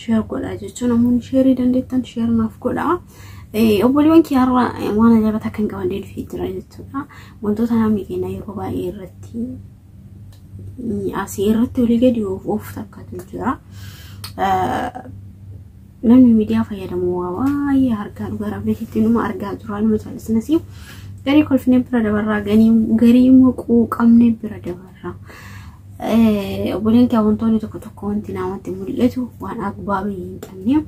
sheer godha jechuun namoonni sheerii dandeettan sheer naaf godha. Obboleewwan kiyyaarra waan ajaa'iba takka hin qabannee dhufee jira jechuudha. Wantoota namni keenya yeroo baay'ee irratti asii irratti olii gadi oofu takkatu jira. Namni miidiyaa fayyadamu waa baay'ee argaa dhugaa rabbiitti nama argaa jira nama callisnas garii kolfinee bira dabarraa garii immoo quuqamnee bira dabarraa. Obboleen kee wantoonni tokko tokko wanti namatti mul'atu waan agbaabii hin qabne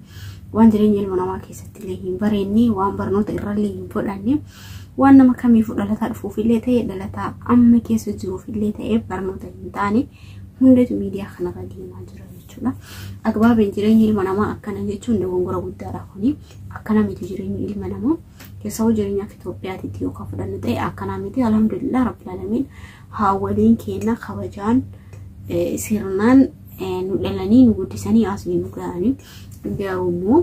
waan jireenya ilma namaa keessatti illee hin bareenne waan barnoota irrallee hin fudhanne waan nama kamiifuu dhalataa dhufuuf illee ta'e dhalataa amma keessa jiruuf illee ta'e barnoota hin taane hundatu miidiyaa kanarra deemaa jira jechuudha. Agbaabiin jireenya ilma namaa akkana jechuun dogongora guddaadha kuni akkana miti jireenyi ilma namaa keessawwan jireenya akka Itoophiyaatitti yookaan fudhannu ta'e akkana miti alhamdulillah rabbil alamin Haawwoliin keenna kabajaan sirnaan nu dhalanii nu guddisanii asii nu ga'anii garuu immoo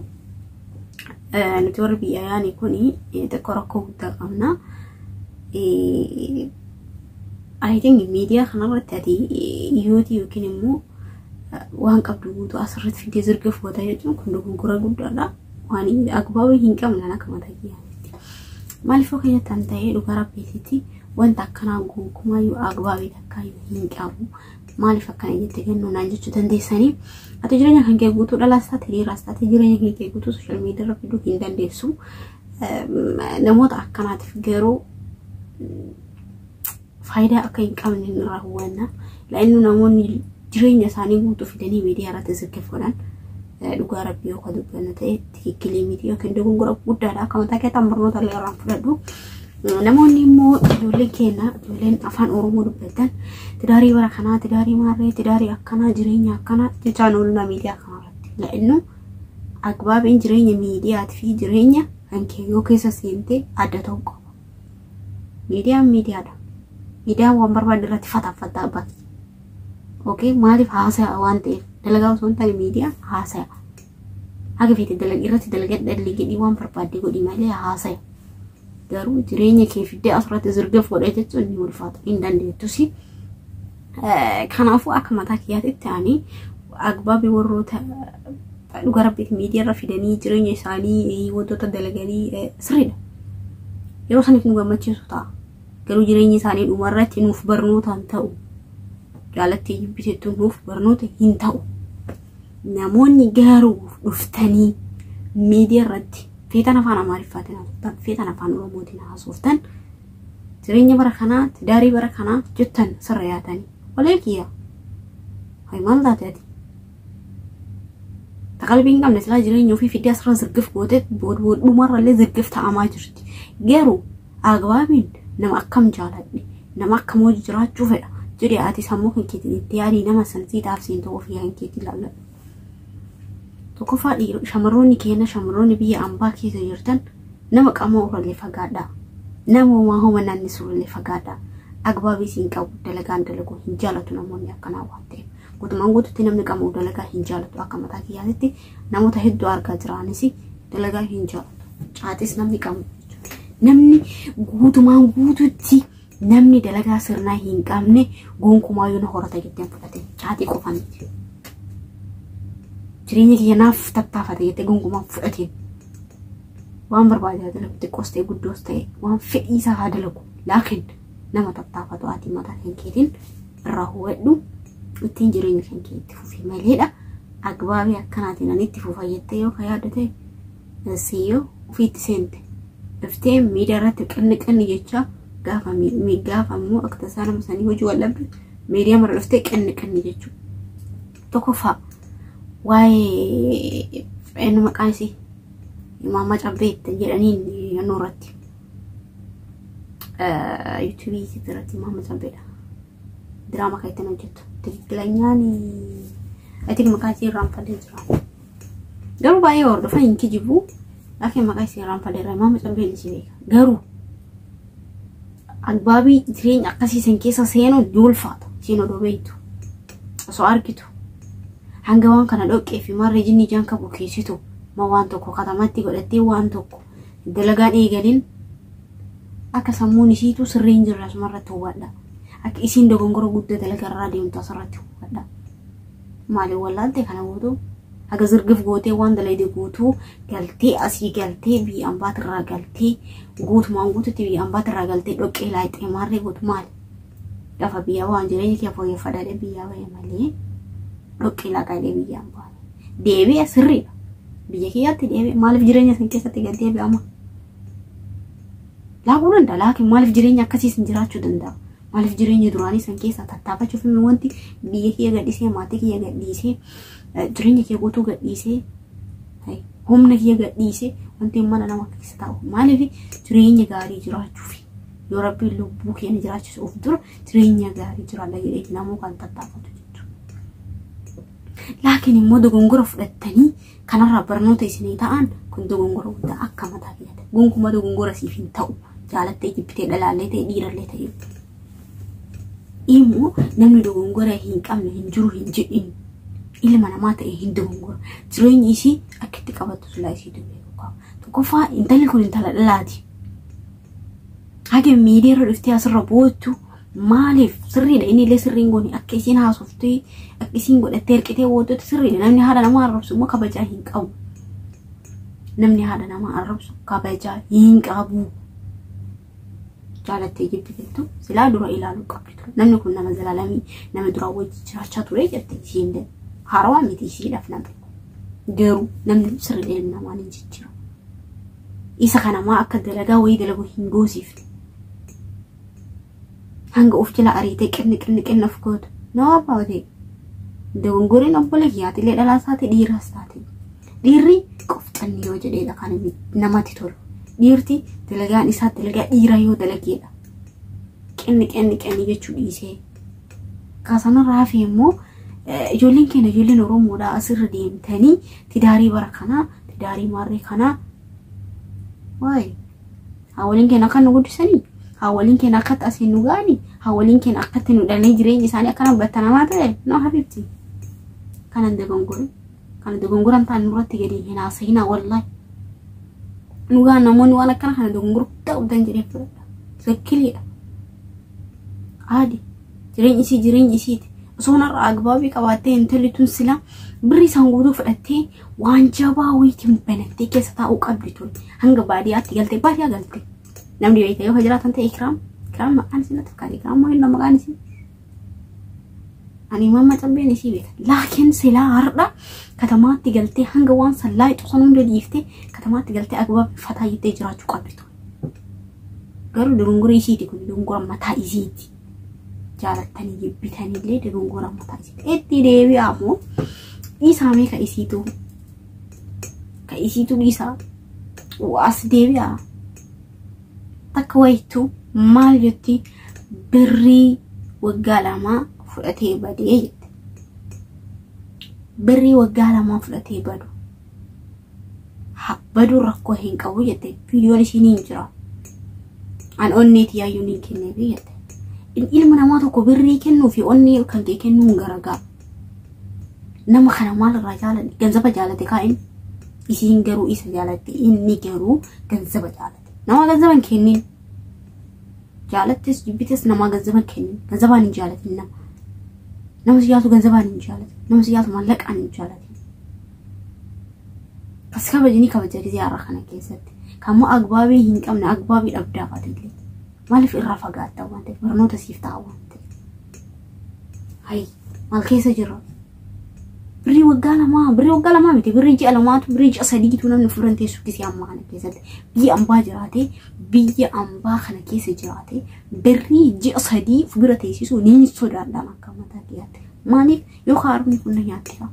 nuti warri biyya yaanii kun xiqqoo rakkoo guddaa qabna. I think miidiyaa kanarratti ati yootii yookiin immoo waan qabdu guutuu asirratti fidee zirga fuuta jechuun kun dogoggora guddaadha. Waan agbaaba hin qabne akka mataa kiyyaatti. Maaliif yoo keenyatti an ta'ee dhugaa rabbiititti Wanta akkanaa gonkumaayyuu agbaabii takkaayyuu hin qabu. Maaliif akkana jette gannu naan jechuu dandeessanii. Ati jireenya kan kee guutuu dhalaas taate dhiiraas taate jireenya kan kee guutuu sooshaal miidiyaa irra fiduu hin dandeessu. Namoota akkanaatiif garuu faayidaa akka hin qabne hin raawwanna. Laa'innu namoonni jireenya isaanii guutuu fidanii miidiyaa irratti zirgiffaman dhugaa rabbii yoo kan dubbannu ta'e tikkilee miti yookiin dogongora guddaadha. Akka mataa keessan barnoota illee irraan fudhadhu. Namoonni immoo ijoolleen keenya ijoolleen afaan Oromoo dubbatan tidaarii bara kanaa tidaarii maarree tidaarii akkanaa jireenya akkanaa jechaan oolunaa miidiyaa kanarratti. La'innu agbaabiin jireenya miidiyaatii fi jireenya kan kee yoo keessa seentee adda ta'uu qaba. Miidiyaan miidiyaadha. Miidiyaan waan barbaadde irratti fataffataa baki. Okee maaliif haasaya waan ta'eef dalagaa osoo hin taane miidiyaan haasaya. Haga feete dalag irratti dalagadha liigidhii waan barbaadde godhi malee haasaya. Garuu jireenya kee fiddee asirratti zirgaf godhee jechuun ni ulfaata hin dandeettusi. Kanaafuu akka mataa kiyyaatitti ani agbaabii warroota dhuga rabbiiti miidiyaarra fidanii jireenya isaanii wantoota dalaganii sirriidha. Yeroo saniif nu gammachiisu ta'a. Garuu jireenya isaanii dhumarratti nuuf barnootaan ta'u. Jaalattii jibbisitti nuuf barnoota hin ta'u. Namoonni garuu dhuftanii miidiyaa irratti feetan afaan Amaariffaatiin haasoftan, feetan afaan Oromootiin haasoftan, jireenya bara kanaa, tidaarii bara kanaa jettan sirra yaatanii. Walee kiyya. Hay maal taate ati? Ta qalbii hin qabne silaa jireenya ofii fiddee asirra zirgif gootee bood bood dhumarrallee zirgif ta'amaa jirti. Garuu Al-Agwaabiin nama akkam jaaladhe, nama akkam wajji jiraachuu fedha jedhee ati sammuu kan keetiin itti yaadii nama san sii dhaabsiin ta'uu ofii kan keetii laalladhu. Tokkoffaa dhiirota shamarroonni keenya shamarroonni biyya ambaa keessa jirtan nama qamoo irrallee fagaadhaa. Nama homaa homa naannisu irrallee fagaadhaa. Agwaabii siin qabu dalagaan dalaguu hin jaalatu namoonni akkanaa waan ta'eef. Guutumaan guututti namni qamoo dalagaa hin jaalatu akka mataa kiyyaatitti Namoota hedduu argaa jira anis dalagaa hin jaalatu. Caatis namni qabu namni guutumaan guututti namni dalagaa sirnaa hin qabne gonkumaa yoo na horata jettee hin fudhate caatii qofa miti. Jireenya kiyya naaf tattaafate jettee gonkumaa hin fudhatiin. Waan barbaade haa dalagu xiqqoos ta'e guddoos ta'e waan fedhii isaa haa dalagu laakiin nama tattaafatu ati mataa kan keetiin irraa hubadhu ittiin jireenya kan kee itti fufi maleedha agbaabii akkanaatiin ani itti fufa jettee yoo kan yaaddu ta'e siyyoo ofiitti seente dhuftee miidiyaa irratti qinni qinni jechaa gaafa mi- gaafa immoo akka tasaa nama sanii hojii wal dhabde miidiyaa mara dhuftee qinni qinni jechuu tokkoffaa waa'ee inni maqaan isii maammaa cabbee ittiin jedhaniin yannoo irratti yuutuubii irratti maama cambeedha. Diraama kan ittiin hojjetu. Tikikilanyaani I think maqaa isii irraan fadee jira. Garuu baay'ee hordofa hin kijibu. Akka maqaa isii irraan fadee irraa maama cambeen isii beeka. Garuu agbaabii jireenya akkasii san keessa seenuun ni ulfaata. Siin odoo beektu. Osoo argitu. Hanga waan kana dhoqqee fi marree jinni jaan qabu keessitu. Ma waan tokko katamatti godhattee waan tokko. dalagaan eegalin akka sammuun isiitu sirrii hin jirre asuma irratti hubadha. Akka isiin dogongora guddaa dalagaa irraa deemtu asirratti hubadha. Maali wallaalte kana guutuu haga zirgif gootee waan dalayde guutuu galtee asii galtee biyya ambaat irraa galtee guutumaan guututti biyya ambaat irraa galtee dhoqqee laayxee maarree gootu maali? Lafa biyyaa waan jireenya kee fooyyeffadhaadhe biyyaa bahee malee dhoqqee laaqaadhe biyya ambaat. deebi'a sirriidha. Biyya kiyyaatti deebi'a maaliif jireenya isin keessatti gad deebi'ama? Laaquu danda'a laakiin maaliif jireenya akkasii isin jiraachuu danda'a? Maaliif jireenya duraanii isin keessaa tattaafachuuf inni wanti biyya kiyya gadhiisee maatii kiyya gadhiisee jireenya kiyya guutuu gadhiisee humna kiyya gadhiisee wanti mana nama keessa taa'u maaliif jireenya gaarii jiraachuuf yoo rabbiin lubbuu keenya jiraachisuuf dura jireenya gaarii jiraadha jedhee namuu kan tattaafatu Laakiin immoo dogongora fudhattanii kanarraa barnoota isinii ta'an kun dogongora guddaa akka mataa kiyyaatti. Gonkumaa dogongora siif hin ta'u. Jaalattee jibbitee dhalaallee ta'e dhiirallee ta'e. Immoo namni dogongora hin qabne hin jiru hin jedhin. Ilma namaa ta'e hin dogongora. Jireenyi isii akka itti qabattu silaa isii dubbee tokko. Tokkoffaa intalli kun intala dhalaati. Hage miidiyaa irra dhuftee asirra boochu maaliif sirriidha inni illee sirriin goone akka isiin haasoftee akka isiin godhattee hirqitee boochuutti sirriidha namni haadha namaa arrabsu immoo kabajaa hin qabu. Namni haadha namaa arrabsu kabajaa hin qabu. Jaalattee jibbi jettu silaa dura ilaaluu qabdi ture. Namni kun nama zalaalamii nama duraa wajji jiraachaa ture jette isiin illee haarawaa miti isiidhaaf namni. Garuu namni sirriidha ilmi namaa ni jijjiirama. isa kana maa akka dalagaa wayii dalagu hin goosiifte hanga of jala ariitee qinni qinni qinni of gootu noo abaawotee dogongoriin obboleeyyaatilee dhalaas taate dhiiraas taate dhiirri qofxanni yoo jedheedha kan inni namatti tolu dhiirti dalagaan isaa dalagaa dhiira yoo dalageedha qinni qinni qinni jechuu dhiisee kaasanarraa hafee immoo ijoolleen keenya ijoolleen oromoodha asirra deemtanii tidaarii bara kanaa Tidaarii maarree kanaa. Waay. Haawoliin keenya akka nu guddisanii. Haawoliin keenya akkatti asiin nu ga'anii. Haawoliin keenya akkatti nu dhalee jireenyi isaanii akkana battanamaa ta'e. No habiibti. Kanan dogongore. Kana dogongoran ta'an nurratti gadi hin haasa'inaa wallahi. Dhugaa namoonni waan akkana kana dogongora guddaa qabdan jedhee fudhadha. Zakkiliidha. Aadi. Jireenyi isii jireenyi isiiti. Osoo narraa agbaabii qabaattee intalli tun silaa birri isaan guutuu fudhattee waan jabaa wayiitiin banattee keessa taa'uu qabdi tun hanga baadiyyaatti galte baadiyyaa galte namni beekte yoo jiraatan ta'e kiraam kiraam maqaan isii natti fakkaate kiraam moo innoo maqaan isii ani mamma cabbeen isii beeka laakiin silaa hardha katamaatti galtee hanga waan sallaa xusan hunda dhiiftee katamaatti galtee agbaab fataa jettee jiraachuu qabdi tun garuu dogongora isiiti kun dogongora mataa isiiti jaalattanii jibbitanillee dogongora mataa isiiti itti deebi'aa moo dhiisaamee ka isiitu ka isiitu dhiisaa as deebi'aa takka wayittu maal jetti birrii waggaa lamaa fudhatee badee jette birrii waggaa lamaa fudhatee badu ha- baduu rakkoo hin qabu jette viidiyoon ishii ni hin jira an onnee tiyaayyuu ni kenneefi jette In- ilma namaa tokko birrii kennuu fi onnee kan kee kennuu hin garagaa nama kana maal irraa jaalate ganzaba jaalate kaa inni isiin garuu isa jaalatti inni garuu ganzaba jaalate nama ganzaba hin kennin jaalattis jibbitis nama ganzaba hin kennin ganzabaan hin jaalatin nama nama siyaatu ganzabaan hin jaalatin nama siyaatu mallaqaan hin jaalatin As kabaji ni kabaja gizee har'a kana keessatti. Kammoo agbaabii hin qabne agbaabii dhabdaa fatiillee. Maaliif irraa fagaattaa waan ta'eef barnoota siif ta'a waan ta'eef. Hayi maal keessa jira? Birrii waggaa lamaa birrii waggaa lamaa miti birrii ji'a lamaatu birrii ji'a sadiitu namni furan teessu gizee ammaa kana keessatti. Biyya ambaa jiraatee biyya ambaa kana keessa jiraatee birrii ji'a sadii fudura teessisuu ni sodaadhaan akka mataa kiyyaatti. Maaliif Yookaan harmni kun na nyaatti fa'a.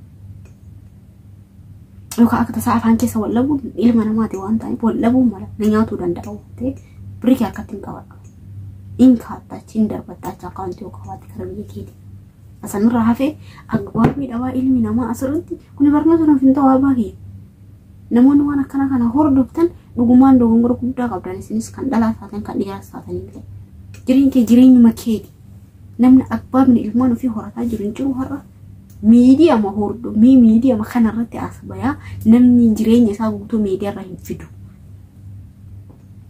Yookaan akka tasaa afaan keessa wal dhabuun ilma namaati waan ta'eef wal dhabuun mala na nyaatuu danda'a waan ta'eef birii kee harkatti hin qabadhu. In kaatta achi hin darbatta achi akkaawuntii yoo qabaate gara biyya keeti. Asanirraa hafee agbaabbii dhabaa ilmi namaa asirratti kuni barnoota nuuf hin ta'u abbaa kiyya. Namoonni waan akkana kana hordoftan dhugumaan dogongora guddaa qabdan isinis kan dhalaas taatan kan dhiiraas taatan illee. Jireenyi kee jireenyuma keeti. namni abbaabni ilmaan ofii horataa jiru hin jiru har'a miidiyama hordo mii miidiyama kanarratti as bayaa namni jireenya isaa guutuu miidiyarra hin fidu.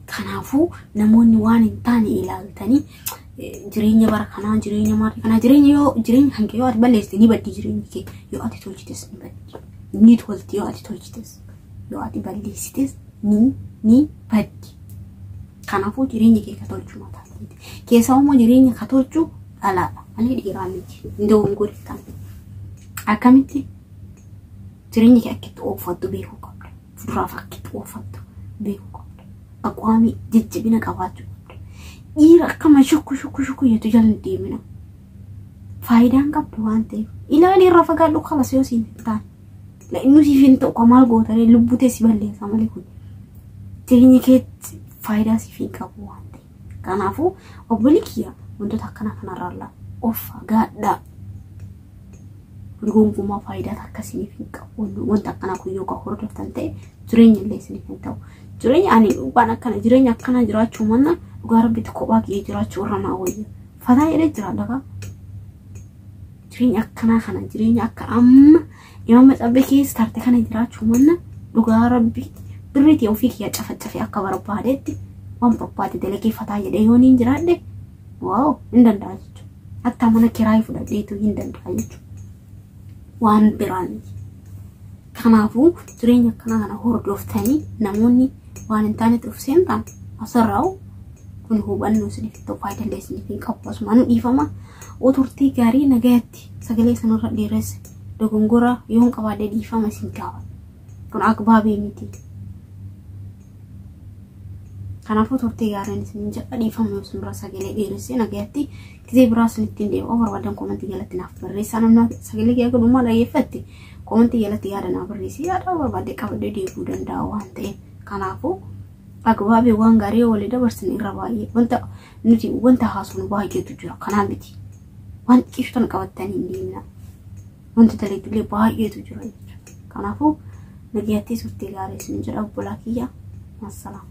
Kanaafuu namoonni waan hin taane ilaaltanii jireenya bara kanaa jireenya maatii kanaa jireenya yoo jireenya kan kee yoo ati balleessite ni baddi jireenyi kee yoo ati tolchites ni baddi ni tolti yoo ati tolchites yoo ati balleessites ni ni baddi. Kanaafuu jireenya kee ka tolchuu mataa keeti. Keessaa immoo jireenya ka tolchu dhalaadha malee dhiiraa miti. Hin dogoggoriftan. Akkamitti jireenya kee akkitti ooffattu beekuu qabda. Fuduraaf akkitti ooffattu beekuu qabda. Aqwaamii jajjabina qabaachuu qabda. Dhiira akkama shukku shukku shukku jettu jala hin deemina. Faayidaan qabdu waan ta'eef. Ilaali irra fagaadhu kalas yoo siin hin taane. La inni siif hin ta'u maal gootaree lubbuu tee si balleessa malee kun. Jireenya keetti faayidaa siif hin qabu waan ta'eef. Kanaafuu obbolii kiyya wantoota akkanaa kanarraallaa of fagaadhaa. Gonkumaa faayidaa takka isiniif hin qabu. Wanta akkanaa kun yoo kan hordoftan ta'e jireenya illee isiniif hin ta'u. Jireenya ani waan akkana jireenya akkanaa jiraachuu manna dhugaa rabbitti kophaa kiyya jiraachuu irra naa wayya. Fataa jedhee jiraadha kaa. Jireenya akkanaa kana jireenya akka amma Imaam Maxabbe keessa tarte kana jiraachuu manna dhugaa rabbi birriitii ofii kiyya cafacafe akka barbaadetti waan barbaade dalageeffataa jedhee yoo niin jiraadhe waaw hin danda'a jechuudha. Hatta mana kiraayii fudhadheetu hin danda'a jechuudha. Waan biraa miti. Kanaafuu jireenya akkanaa kana hordoftanii namoonni waan hin taanetti of seentan asirraa'u kun hubannoo isiniif ta'u faayidaa illee isiniif hin qabu. Asumaan dhiifama. Oturtii gaarii nagayatti. irratti sagalee sanarra dheeressa dogongora yoon qabaadhe dhiifama isin gaafadha. Kun akbaabii miti. Kanaafuu turtii gaariin isin jedha dhiifama yoo isinirra sagalee dheeressee nagayatti gizee biraa isin ittiin deebi'u barbaadan koomantii jalatti naaf barreessaa namni sagalee kee akka dhumaa dhaggeeffatte koomantii jalatti yaada naa barreessi yaada barbaadde qabadde deebi'uu danda'a waan ta'eef kanaafuu akbaabii waan gaarii yoo walii dabarsin irra baay'ee wanta Nuti wanta haasofnu baay'eetu jira. Kanaa miti. Waan xiqqeessu tana qabattanii hin deemna. Wanta dalaydullee baay'eetu jira jechuudha. Kanaafuu nagayattee turtee gaarii isin jedha obbolaa kiyya. Maasalaama.